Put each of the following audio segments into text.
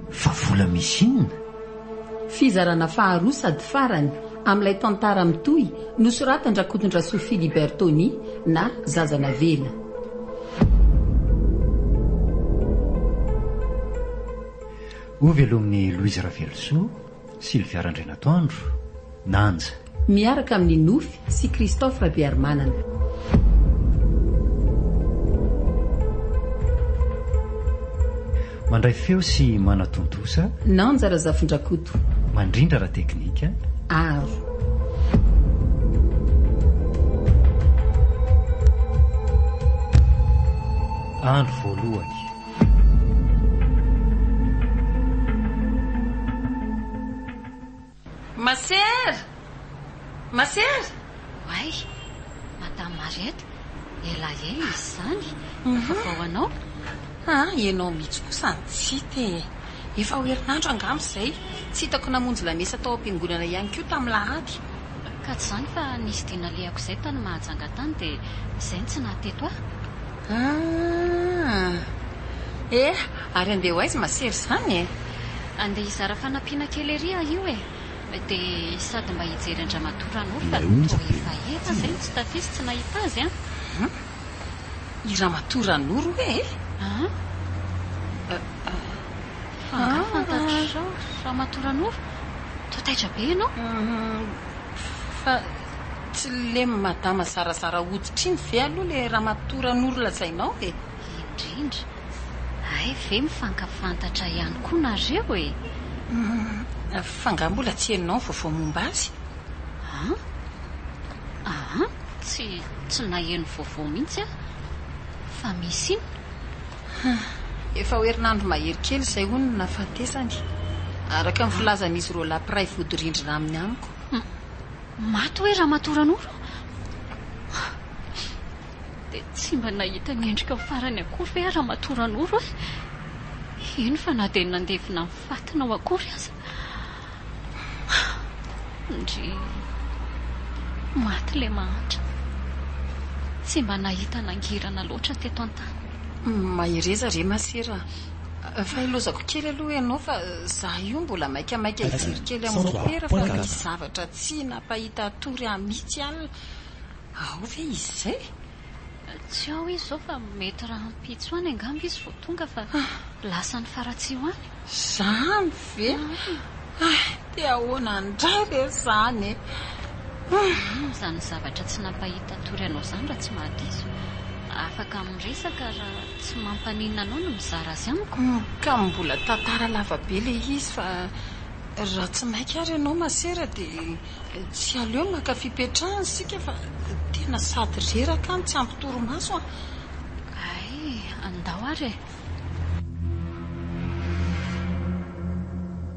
Fa vola misy inona? Fizarana faharoa sady farany amin'ilay tantara mitohy nosoratan-dRakotondrasoa Philibert Tony na Zaza Navela. Ho velomin'i Louise Ravelosoa Sylvia Randrianatoandro, Nanja. Miaraka amin'i Nofy sy Christophe Rabearimanana. Mandray feo sy manatontosa. Nanja Razafindrakoto. Mandrindra ara-teknika. Aro. Andro voalohany. Masera! Masera! Oay! Madame Mariette, elaela izy izany no vaovao anao? Ha, ianao mihitsy kosa no tsy hita e! Efa ho herinandro angamba izay, tsy hitako namonjy lamesa tao am-piangonana ihany koa tamin'ny lahady. Ka tsy izany fa nisy dia nalehako izay tany Mahajanga tany dia izay no tsy naha-teto ahy. Aah! Eh! Ary andeha ho aiza masery izany e? Andeha hizara fanampiana kely ery aho io e! Dia sady mba hijery an-dramatoa Ranolina no toa efa ela izay no tsy tatisa tsy nahita azy an! Hum! I Ramatoa Ranoro hoe e! An? Fa angaha fantatrao Ramatoa Ranoro? Toa taitra be ianao? Fa. Tsy le madama zarazara hoditra iny ve aloha le ramatoa Ranoro lazainao e? Indrindra. Hay ve mifankafantatra ihany koa nareo e? Humm, fa nga mbola tsy henonao ny vaovao momba azy? An? An? Tsy, tsy naheno vaovao mihitsy aho fa misy iny. Hum, efa ho herinandro mahery kely izay hono no nahafatesany, araka ny filazan'izy roalahy mpiray vodirindrina aminy amiko. Maty hoe Ramatoa Ranoro? Dia tsy mba nahita ny endrikao farany akory ve aho Ramatoa Ranoro e? Eny fa na dia nandevina ny fatinao akory aza. Ndry. Maty ilay mahantra. Tsy mba nahita nangirana loatra teto an-tany. Mahereza re Masera a. Fa hilozako kely aloha ianao fa za io mbola maikamaika hijery kely am mopera fa misy zavatra tsy nampahita hatory ahy mitsy alina, ao ve izy izay? Tsy ao izy izao fa mety rahampitso any angamba izy vao tonga fa lasa any Faratsiho any. Zany ve? Hay, dia ahoana indray re zany e! Inona izany zavatra tsy nampahita hatory anao izany raha tsy mahadiso? Afaka miresaka raha. Tsy mampaninona anao ny mizara azy amiko? Ka mbola tantara lava be ilay izy fa raha tsy maika ary ianao masera dia tsy aleo maka fipetrahana isika fa tena sady reraka no tsy ampy torimaso an! Hay, andao ary e!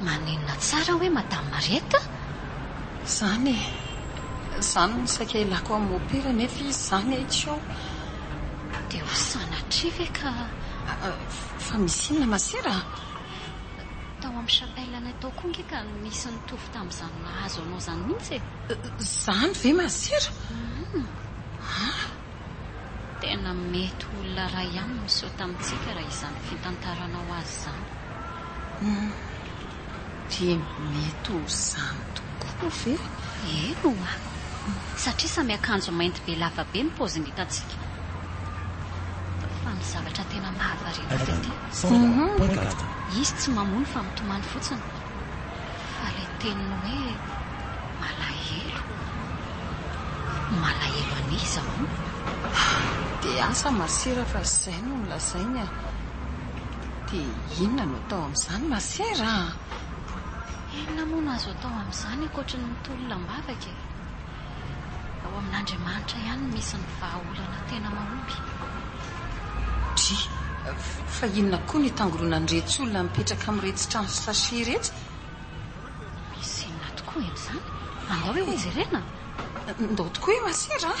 Maninona tsara hoe Madame Mariette? Zany e! Zany no saika ilako amin'ny mopera nefa izy zany e! tsy ao! Dia ho sanatria ve ka? Fa misy inona ma sera a? Tao amin'ny chapelle-nay tao koa ange ka nisy nitovy tamin'izany nahazo anao izany mihitsy e! Zany ve ma sera? Hum! An! Tena mety ho olona iray ihany no niseho tamintsika raha izany fitantaranao azy izany. Humm. Dia mety ho izany tokoa ve? Eny oa. Satria samy akanjo mainty be lava be ny paoziny hitantsika. Fa ny zavatra tena mahavariana ahy dia ity. Humm. Izy tsy mamono fa mitomany fotsiny. Fa ilay teny hoe malahelo, malahelo an'iza hono? DH, Masera fa izay no nolazainy a! Dia inona no atao amin'izany Masera a! Inona moa no azo atao amin'izany ankoatry ny mitolona am-bavaka e? Ao amin'Andriamanitra ihany no misy ny vahaolana tena mahomby. Dry, fa inona koa no itangoronan'iretsy olona mipetraka amin'iretsy trano sachet iretsy? Misy inona tokoa eny izany? Andao hoe hojerena. Ndao tokoa hoe masera a!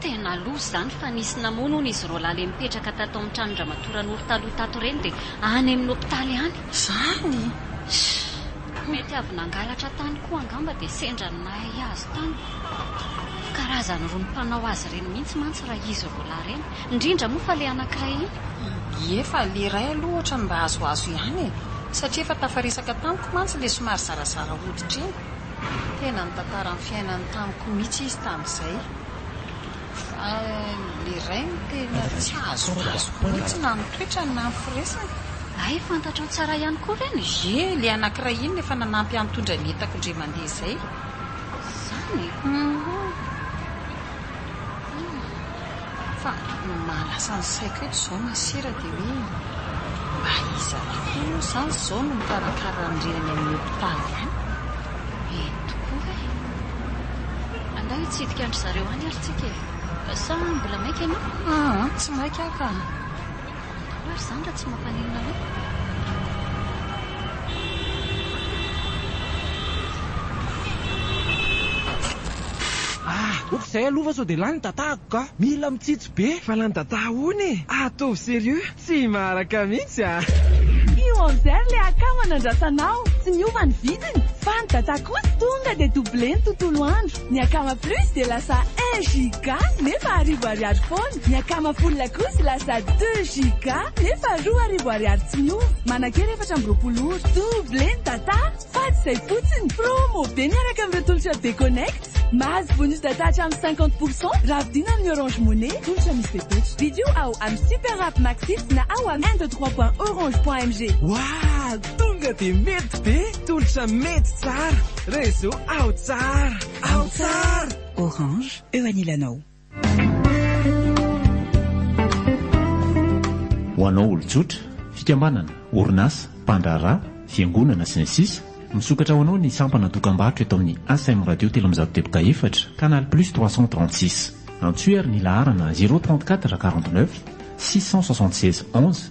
Tena loza izany fa nisy namono hono izy roalahy le nipetraka tato amin'ny tranon dramatoa Ranoro taloha tato ireny dia any amin'ny hopitaly any. Zany? Sh! Mety avy nangalatra tany koa angamba dia sendra ny nahay azy tany. Karazany roa ny mpanao azy ireny mihitsy mantsy raha izy roalahy ireny. Indrindra moa fa le anankiray iny. Ie fa le iray aloha ohatrany mba azoazo ihany e. Satria efa tafaresaka tamiko mantsy le somary zarazara hoditra iny. Tena nitantara ny fiainany tamiko mihitsy izy tamin'izay. Fa ilay rainy tena tsy azo azoko mihitsy na ny toetrany na ny firesiny. Hay fantatrao tsara ihany koa ve ny jeu ilay anankiray iny efa nanampy ahy nitondra ny entako indray mandeha izay? Izany e! Humm. Fa ny maha lasa ny saiko eto izao masera dia hoe mba iza tokoa moa izany izao no mikarakara an'ireo any amin'ny hopitaly any? Eny tokoa e! Angaha hitsidika an-dry zareo any ary tsika e! Sa mbola maika ianao? Aa tsy maika aho ka! Ahoana ary izany raha tsy mampaninona anao? Ah! Ops, zay aloha fa sao dia lany ny datako ka! Mila mitsitsy be! Fa lany data ahoana e? Ataovy serieux! Tsy maharaka mihitsy ah! Io amzer le akama nandrasanao, tsy niova ny vidiny, fa ny data kosa tonga dia double ny tontolo andro. Ny akama plus dia lasa un giga nefa arivo ariary foana. Ny akama full kosa lasa deux giga nefa roa arivo ariary tsy miova. Manankery efatra amby roapolo ora. Double eny data fa tsy izay fotsiny. Promo be miaraka amin'ireo tolotra Be-Connect. Mahazo bonus data hatramin'ny cinquante pour cent raha vidiana amin'ny Orange Money. Tolotra misy fepetra. Vidio ao amin'ny Super App Maxit na ao amin'ny un deux trois point orange point mg. Wah! Tonga dia mety be! Tolotra mety tsara, réseau ao tsara, ao tsara. Orange, eo anilanao. Ho anao olon-tsotra, fikambanana, orinasa, mpandraharaha, fiangonana, sy ny sisa Misokatra ho anao ny sampana dokam-barotra eto amin'ny ASM Radio telo amby zato teboka efatra, canal plus trois cent trente six. Antsoy ary ny laharana zéro trente quatre quarante neuf six cent soixante seize onze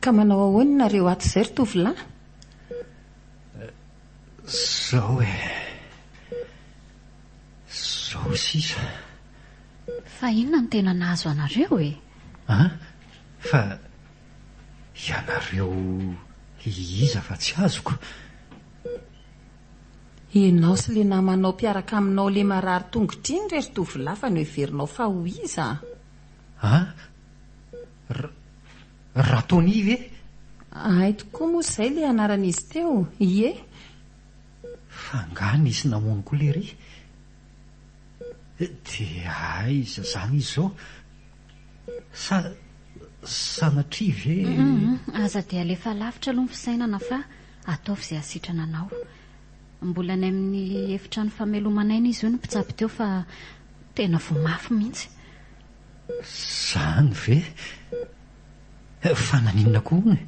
Ka manao ahoana nareo ato izay ry tovolahy? Zao e! Zao sisa! Fa inona no tena nahazo anareo e? An! Fa ianareo iza fa tsy azoko? Ianao sy le namanao mpiaraka aminao le marary tongotra iny re ry tovolahy fa noheverinao fa ho iza? An! Ra Tony ve? Ahay tokoa moa izay ilay anaran'izy teo, ie. Fa angaha nisy namono koa lery? Dia aiza izany izy izao? Sa sanatria ve? Aza dia alefa lavitra aloha ny fisainana fa ataovy izay hasitrana anao. Mbola any amin'ny efitrano fameloman'aina izy io no mpitsabo teo fa tena voa mafy mihitsy. Zany ve? Fa naninona koa hono e?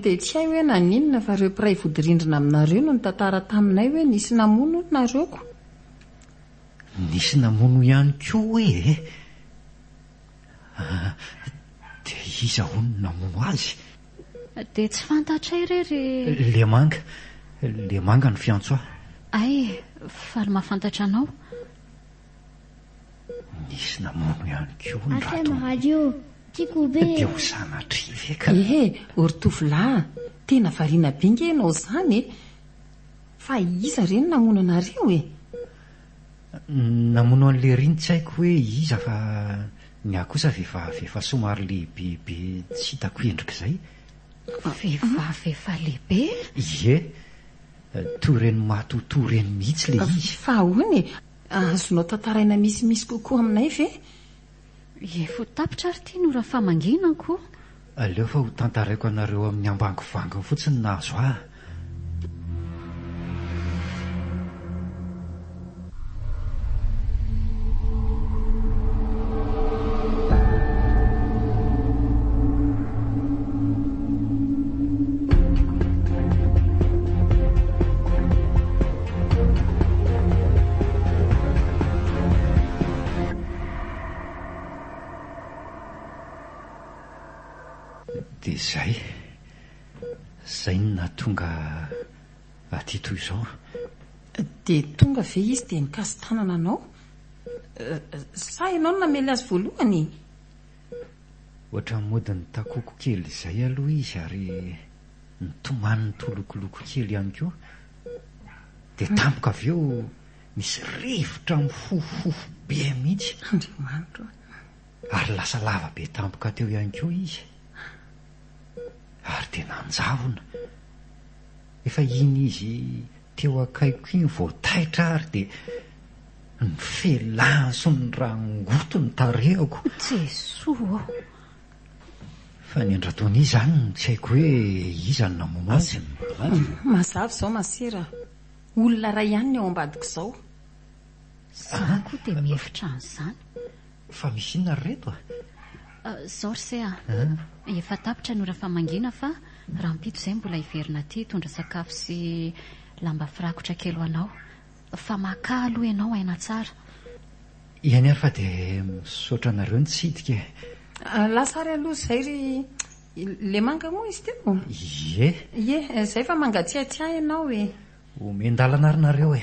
Dia tsy hay hoe naninona fa ireo mpiray vodirindrina aminareo no nitantara taminay hoe nisy namono hono nareo ko. Nisy namono ihany koa hoe e? Ah, dia iza hono namono azy? Dia tsy fantatray re ry. Lemanga. Lemanga no fiantso ahy. Hay e, faly mahafantatra anao. Nisy namono ihany koa ny ratomonina. Dia ho sanatria ve ka? Ehe, ô ry tovolahy, tena variana be ange ianao izany e! Fa iza re no namono anareo e? Namono an'i Lery ny tsy haiko hoe iza fa ny ahy kosa vehivavy efa somary lehibebe tsy hitako endrika izay. Vehivavy efa lehibe? Ie, toy ireny matotoa ireny mihitsy ilay izy. Fa ahoana e? Azonao tantaraina misimisy kokoa aminay ve? Efa tapitra ary ity no Rafamanginako. Aleo fa ho tantaraiko anareo amin'ny ambangovangony fotsiny na azo ahy. Dia izay. Izay no nahatonga aty toy izao. Dia tonga ve izy dia nikasi-tanana anao? Sa ianao no namely azy voalohany e? Ohatran'ny mody nitakoko kely izay aloha izy ary Nitomany nitolokoloko kely ihany koa dia tampoka avy eo misy rivotra mifofofofo be mihitsy. Andriamanitro a! Ary lasa lava be tampoka teo ihany koa izy. Ary dia nanjavona. Efa iny izy teo akaiko iny vao taitra ary dia ny felany sy ny rangoto ny tarehako. Jesoa ô! Fa ny an-dRatonia izany no tsy haiko hoe iza no namono azy. Mazava izao masera a! Olona iray ihany ny ao ambadiko izao. Izaho koa dia mihevitra an'izany. Fa misy inona ry reto a? Izao ry se a! Efa tapitra ny ora famangiana fa rahampitso izay mbola hiverina aty hitondra sakafo sy lamba firakotra kely ho anao. Fa makà aloha ianao aina tsara. Eny ary fa dia misaotra anareo nitsidika e. Lasa ary aloha izay ry le manga moa izy teo? Ie. Ie, izay fa mangatsiatsiahy ianao e. Omen-dalana ary nareo e.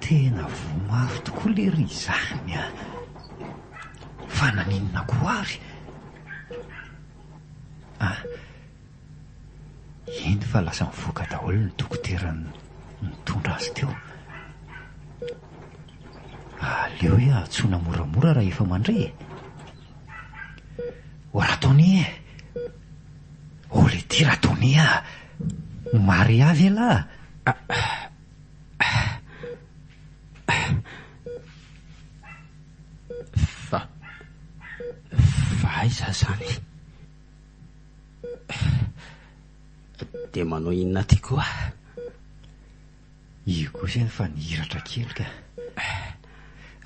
Tena voa mafy tokoa lery izany a! Fa naninona koa ary? A! Eny fa lasa nivoaka daholo ny dokotera nitondra azy teo. Aleo hoe antsoina moramora raha efa mandre e! Ô Ratonia e! Holy ity Ratonia a! Ny Maria ve lah? Fa fa aiza zany? Dia manao inona aty koa? Io koa zany fa nihiratra kely ka.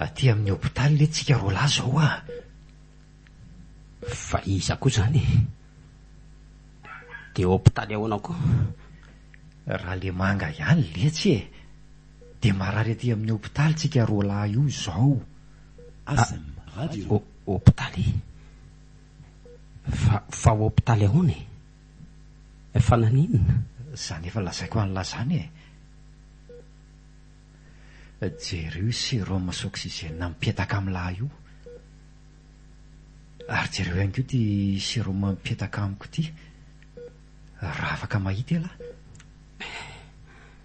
Aty amin'ny hopitaly le tsika roalahy zao a! Fa iza koa izany e? Dia hopitaly ahoana koa? Ralemanga ihany letsy e! Dia marary aty amin'ny hopitaly tsika roa lahy io izao. Hopitaly? Fa hopitaly ahoana e? Fa naninona? Izany efa lazaiko an'lah izany e! Jereo io sérum sy oxygène mipetaka amin'lah io. Ary jereo ihany koa ity sérum mipetaka amiko ity. Raha afaka mahita elah.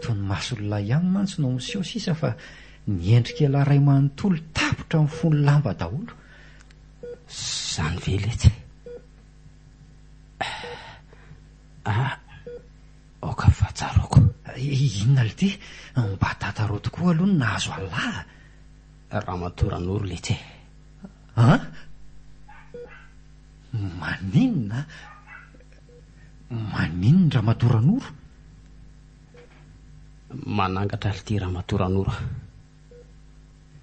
Toy ny mason'ilay ihany mantsy no miseho sisa fa ny endrik'elah iray manontolo tapitra mifono lamba daholo. Zany ve letsy e? Ah, aoka fa tsaroako. Inona lty? Mba tantaraoy tokoa aloha ny nahazo anlah. Ramatoa Ranoro Letse. An? Maninona? Maninona Ramatoa Ranoro? Manangatra lty Ramatoa Ranoro a.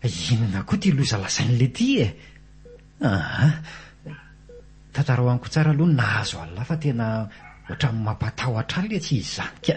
Inona koa ity loza lazain'la ity e? Aa! Tantarao amiko tsara aloha ny nahazo an'la fa tena ohatran'ny mampatahotra an'la tsy izany ka.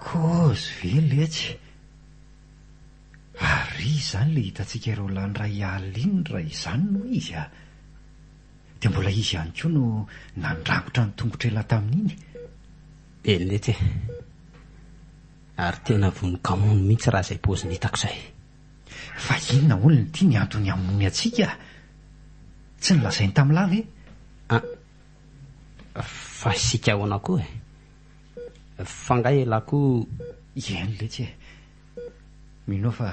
Kozy ve letsy? Ary iza izany ilay hitantsika ireo lany iray alina iny raha izany no izy a! Dia mbola izy ihany koa no nandrangotra ny tongotr'ela tamin'iny? Be letsy e! Ary tena vonon-kamono mihitsy raha izay paoziny hitako izay. Fa inona hono ity ny antony hamonoany antsika? Tsy nolazainy tamin'lah ve? Ah, fa isika ahoana koa e? Fa nga elah koa iany letsy e! Mino aho fa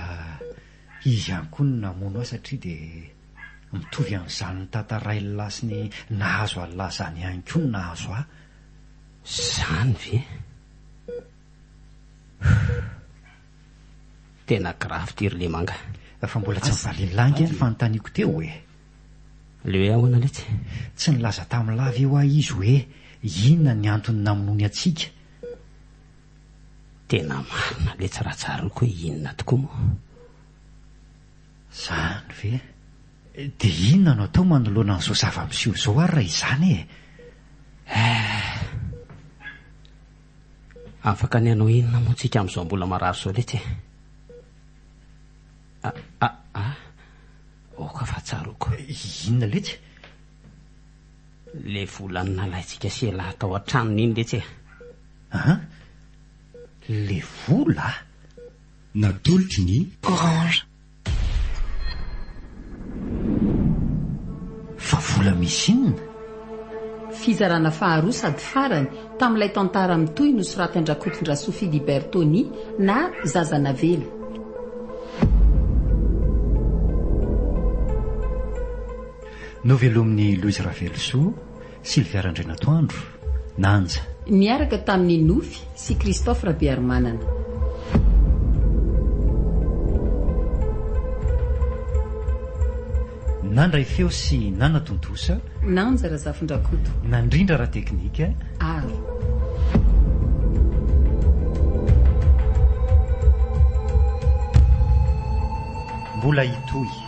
izy ihany koa no namono ahy satria dia mitovy amin'izany nitantarain'lah sy ny nahazo an'lah izany ihany koa no nahazo ahy. Zany ve? Tena grave ty ry Lemanga. Fa mbola tsy nivalian'lah ange ny fanontaniako teo e! Le hoe ahoana letsy? Tsy nilaza tamin'i lahy ve hoa izy hoe inona ny antony namonoany antsika? Tena marina letsy raha tsaroako hoe inona tokoa moa. Zany ve? Dia inona no atao manoloana an'izao zava-miseho izao ary raha izany e? Eh! Afaka ny hanao inona moa tsika amin'izao mbola marary izao letsy e? Ah ah ah! Aoka fa tsaroako. Inona letsy? Ilay vola nalaintsika sy elah tao an-tranony iny letsy e. An? Ilay vola? Natolotry ny. Orange. Fa vola misy inona? Fizarana faharoa sady farany tamin'ilay tantara mitohy nosoratin-dRakotondrasoa Philibert Tony na Zaza Navela. Novelomin'i Louise Ravelosoa, Sylvia Randrianatoandro, Nanja. Niaraka tamin'i Nofy sy Christophe Rabearimanana. Nandray feo sy nanatontosa. Nanja Razafindrakoto. Nandrindra ara-teknika ary. Mbola hitohy.